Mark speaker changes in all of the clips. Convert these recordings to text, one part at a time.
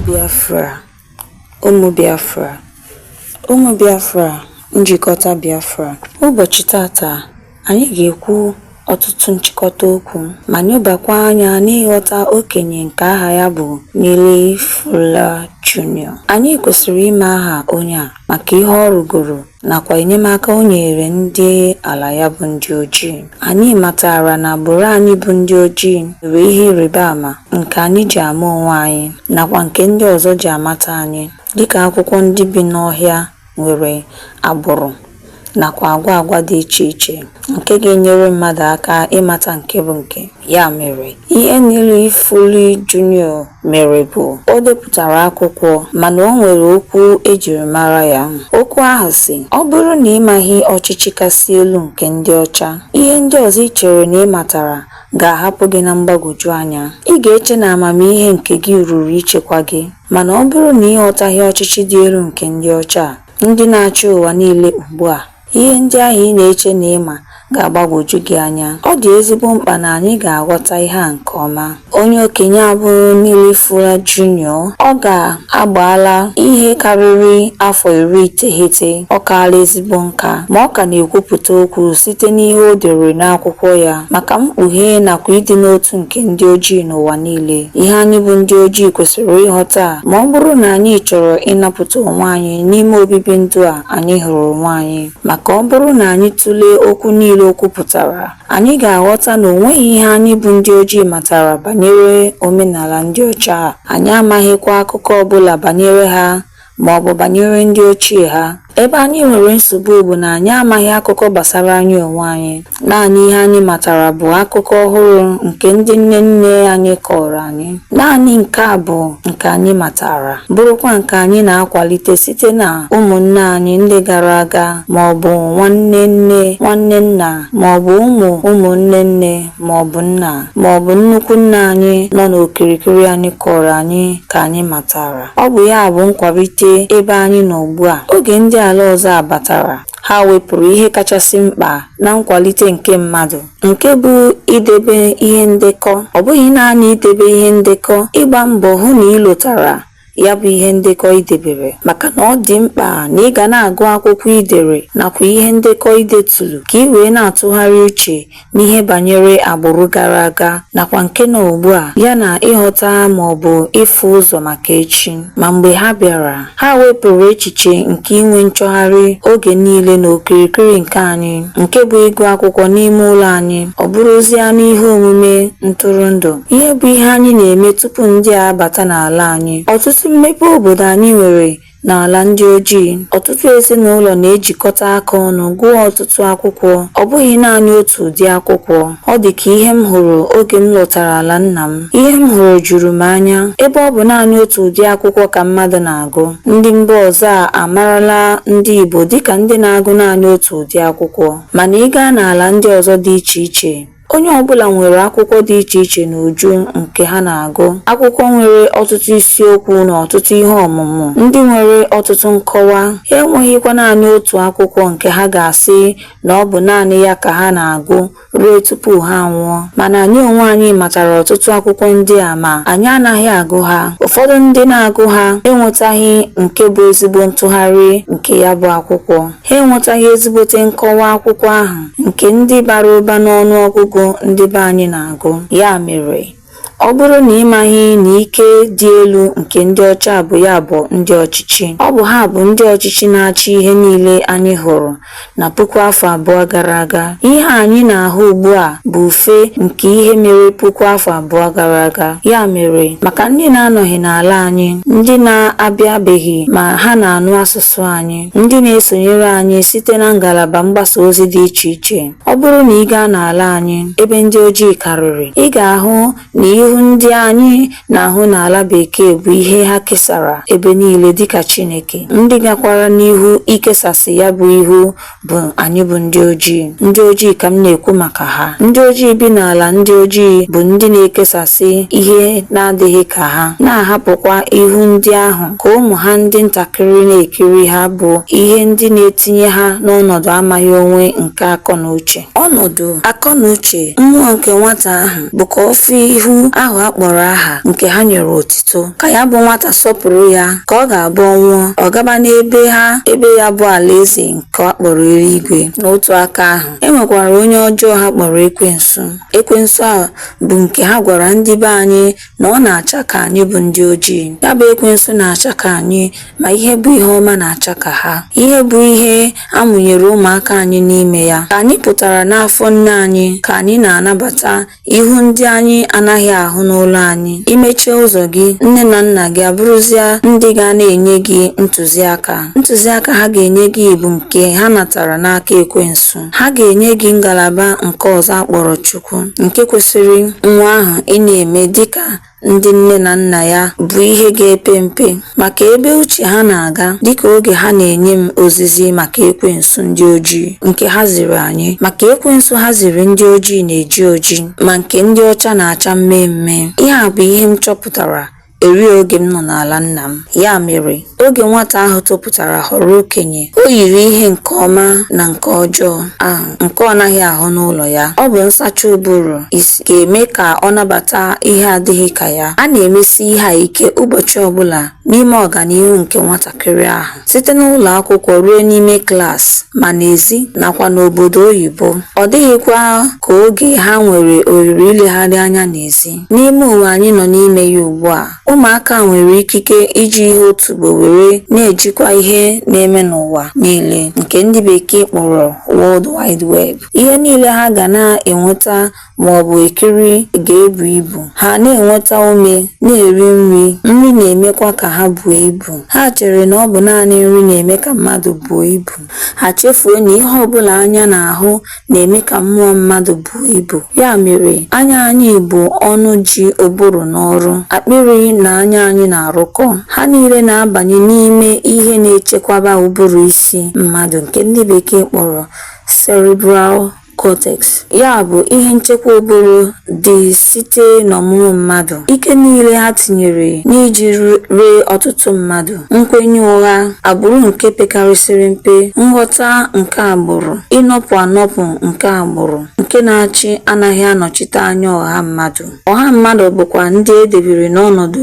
Speaker 1: Biafra, ụmụ Biafra, ụmụ Biafra, njikọta Biafra. Ụbọchị taata, anyị ga-ekwu ọtụtụ nchịkọta okwu ma nyobakwa anya n'ịghọta okenye nke aha ya bụ Neely Fuller Junior. Anyị kwesịrị ime aha onye a maka ihe ọ rụgoro nakwa enyemaka o nyeere ndị ala ya bụ ndị ojii. Anyị matara na agbụrụ anyị bụ ndị ojii nwere ihe ịrịba ama nke anyị ji ama onwe anyị nakwa nke ndị ọzọ ji amata anyị, dịka akwụkwọ ndị bi n'ọhịa nwere agbụrụ nakwa agwa agwa dị iche iche nke ga-enyere mmadụ aka ịmata nke bụ nke. Ya mere, ihe Neely Fuller Junior mere bụ o depụtara akwụkwọ mana o nwere okwu ejiri mara ya. Okwu ahụ sị, ọ bụrụ na ị maghị ọchịchị kasị elu nke ndị ọcha, ihe ndị ọzọ i chere na ị matara ga-ahapụ gị na mgbagwoju anya. Ị ga-eche na amamihe nke gị ruru ichekwa gị. Mana ọ bụrụ na ị ghọtaghị ọchịchị dị elu nke ndị ọcha a, ndị na-achị ụwa niile ugbu a, Ihe ndị ahụ ị na-eche na ị ma ga-agbagwoju gị anya. Ọ dị ezigbo mkpa na anyị ga-aghọta ihe a nke ọma. Onye okenye a bụrụ Neely Fuller Junior. Ọ ga-agbaala ihe karịrị afọ iri iteghete. Ọ kaala ezigbo nka, ma ọ ka na-ekwupụta okwu site n'ihe o dere n'akwụkwọ ya maka mkpughe nakwa ịdị n'otu nke ndị ojii n'ụwa niile. Ihe anyị bụ ndị ojii kwesịrị ịghọta ma ọ bụrụ na anyị chọrọ ịnapụta onwe anyị n'ime obibi ndụ a anyị hụrụ onwe anyị maka ọ bụrụ na anyị tụlee okwu niile o kwupụtara anyị ga-aghọta na o nweghị ihe anyị bụ ndị ojii matara banyere omenala ndị ọcha a anyị amaghịkwa akụkọ ọbụla banyere ha ma ọ bụ banyere ndị ochie ha ebe anyị nwere nsogbu bụ na anyị amaghị akụkọ gbasara anyị onwe anyị Naanị ihe anyị matara bụ akụkọ ọhụrụ nke ndị nne nne anyị kọọrọ anyị. Naanị nke a bụ nke anyị matara, bụrụkwa nke anyị na-akwalite site na ụmụnne anyị ndị gara aga ma ọ bụ nwanne nne, nwanne nna, ma ọ bụ ụmụ ụmụnne nne ma ọ bụ nna, ma ọ bụ nnukwu nna anyị nọ n'okirikiri anyị kọọrọ anyị ka anyị matara. Ọ bụ ya bụ nkwalite ebe anyị nọ ugbu a. Oge ndị ala ọzọ a batara, Ha wepụrụ ihe kachasị mkpa na nkwalite nke mmadụ, nke bụ idebe ihe ndekọ. Ọ bụghị naanị idebe ihe ndekọ, ịgba mbọ hụ na ị lotara ya bụ ihe ndekọ i debere, maka na ọ dị mkpa na ị ga na-agụ akwụkwọ i dere nakwa ihe ndekọ i deturu ka i wee na-atụgharị uche n'ihe banyere agbụrụ gara aga nakwa nke nọ ugbu a, ya na ịghọta ma ọ bụ ịfụ ụzọ maka echi. Ma mgbe ha bịara, ha wepụrụ echiche nke inwe nchọgharị oge niile n'okirikiri nke anyị, nke bụ ịgụ akwụkwọ n'ime ụlọ anyị, ọ bụrụzia n'ihe omume ntụrụndụ. Ihe bụ ihe anyị na-eme tupu ndị a abata n'ala anyị. Ọtụtụ mmepe obodo anyị nwere N'ala ndị ojii, ọtụtụ ezinụlọ na-ejikọta aka ọnụ gụọ ọtụtụ akwụkwọ, ọ bụghị naanị otu ụdị akwụkwọ. Ọ dị ka ihe m hụrụ oge m lọtara ala nna m. Ihe m hụrụ juru m anya. Ebe ọ bụ naanị otu ụdị akwụkwọ ka mmadụ na-agụ, ndị mba ọzọ a amarala ndị Igbo dịka ndị na-agụ naanị otu ụdị akwụkwọ. Mana ị gaa n'ala ndị ọzọ dị iche iche, Onye ọbụla nwere akwụkwọ dị iche iche n'uju nke ha na-agụ. Akwụkwọ nwere ọtụtụ isiokwu na ọtụtụ ihe ọmụmụ ndị nwere ọtụtụ nkọwa. Ha enweghịkwa naanị otu akwụkwọ nke ha ga-asị na ọ bụ naanị ya ka ha na-agụ ruo tupu ha anwụọ. Mana anyị onwe anyị matara ọtụtụ akwụkwọ ndị a ma anyị anaghị agụ ha. Ụfọdụ ndị na-agụ ha enwetaghị nke bụ ezigbo ntụgharị nke ya bụ akwụkwọ. Ha enwetaghị ezigbote nkọwa akwụkwọ ahụ nke ndị bara ụba n'ọnụ ọgụgụ ndị be anyị na-agụ. Ya mere, ọ bụrụ na ị maghị na ike dị elu nke ndị ọcha bụ ya bụ ndị ọchịchị, ọ bụ ha bụ ndị ọchịchị na-achị ihe niile anyị hụrụ na puku afọ abụọ gara aga. Ihe anyị na-ahụ ugbu a bụ ufe nke ihe mere puku afọ abụọ gara aga. Ya mere, maka ndị na-anọghị n'ala anyị, ndị na-abịabeghị ma ha na-anụ asụsụ anyị, ndị na-esonyere anyị site na ngalaba mgbasa ozi dị iche iche ọ bụrụ na ị gaa n'ala anyị ebe ndị ojii karịrị ị ga-ahụ na ihu ndị anyị na-ahụ n'ala bekee bụ ihe ha kesara ebe niile dịka Chineke ndị gakwara n'ihu ikesasị ya bụ ihu bụ anyị bụ ndị ojii ndị ojii ka m na-ekwu maka ha ndị ojii bi n'ala ndị ojii bụ ndị na-ekesasị ihe na-adịghị ka ha na-ahapụkwa ihu ndị ahụ ka ụmụ ha ndị ntakịrị na-ekiri ha bụ ihe ndị na-etinye ha n'ọnọdụ amaghị onwe nke akọ na uche. Ọnọdụ akọ na uche mmụọ nke nwata ahụ bụ ka ọ fụ ihu ahụ a kpọrọ aha nke ha nyere otito, ka ya bụ nwata sọpụrụ ya, ka ọ ga-abụ ọ nwụọ, ọ gaba n'ebe ha ebe ya bụ alaeze nke a kpọrọ eluigwe. N'otu aka ahụ, e nwekwara onye ọjọọ ha kpọrọ ekwensu. Ekwensu a bụ nke ha gwara ndị be anyị na ọ na-acha ka anyị bụ ndị ojii ya bụ ekwensu na-acha ka anyị ma ihe bụ ihe ọma na-acha ka ha ihe bụ ihe a mụnyere ụmụaka anyị n'ime ya ka anyị pụtara n'afọ nne anyị ka anyị na-anabata ihu ndị anyị anaghị ahụ n'ụlọ anyị i mechie ụzọ gị nne na nna gị abụrụzia ndị ga na-enye gị ntụziaka ntụziaka ha ga-enye gị bụ nke ha natara n'aka ekwensu ha ga-enye gị ngalaba nke ọzọ a kpọrọ Chukwu nke kwesịrị nwa ahụ ị na-eme dịka ndị nne na nna ya bụ ihe ga-epe mpe maka ebe uche ha na-aga dịka oge ha na-enye m ozizi maka ekwensu ndị ojii nke ha ziri anyị maka ekwensu ha ziri ndị ojii na-eji oji ma nke ndị ọcha na-acha mmee mmee ihe a bụ ihe m chọpụtara Eri oge m nọ n'ala nna m. Ya mere, oge nwata ahụ topụtara ghọrọ okenye, o yiri ihe nke ọma na nke ọjọọ ahụ nke ọ naghị ahụ n'ụlọ ya. Ọ bụ nsacha ụbụrụ isi ga-eme ka ọ nabata ihe adịghị ka ya. A na-emesi ihe a ike ụbọchị ọ bụla n'ime ọganihu nke nwatakịrị ahụ, site n'ụlọ akwụkwọ ruo n'ime klaasị, ma n'ezi nakwa n'obodo oyibo. Ọ dịghịkwa ka oge ha nwere ohere ilegharị anya n'ezi. N'ime ụwa anyị nọ n'ime ya ugbu a, ụmụaka nwere ikike iji ihe otubo were na-ejikwa ihe na-eme n'ụwa niile nke ndị bekee kpọrọ World Wide Web. Ihe niile ha ga na-enweta ma ọ bụ ekiri ga-ebu ibu. Ha na-enweta ume, na-eri nri, nri na-emekwa ka ha buo ibu. Ha chere na ọ bụ naanị nri na-eme ka mmadụ buo ibu. Ha chefuo na ihe ọ bụla anya na-ahụ na-eme ka mmụọ mmadụ buo ibu. Ya mere, anya anyị bụ ọnụ ji ụbụrụ n'ọrụ, akpịrị na anya anyị na-arụkọ. Ha niile na-abanye n'ime ihe na-echekwaba ụbụrụ isi mmadụ nke ndị bekee kpọrọ cerebral cortex, ya bụ ihe nchekwa ụbụrụ dị site n'ọmụmụ mmadụ, ike niile ha tinyere n'iji ree ọtụtụ mmadụ, nkwenye ụgha, agbụrụ nke pekarịsịrị mpe, nghọta nke agbụrụ, ịnọpụ anọpụ nke agbụrụ, nke na-achị anaghị anọchite anya ọha mmadụ. Ọha mmadụ bụkwa ndị e debere n'ọnọdụ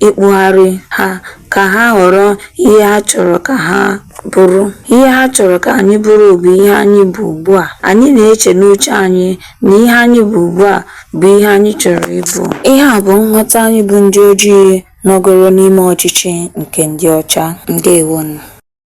Speaker 1: ịkpụgharị ha ka ha ghọrọ ihe ha chọrọ ka ha bụrụ. Ihe ha chọrọ ka anyị bụrụ bụ ihe anyị bụ ugbu a. Anyị na-eche n'uche anyị na ihe anyị bụ ugbu a bụ ihe anyị chọrọ ịbụ. Ihe a bụ nghọta anyị bụ ndị ojii nọgoro n'ime ọchịchị nke ndị ọcha. Ndewonụ.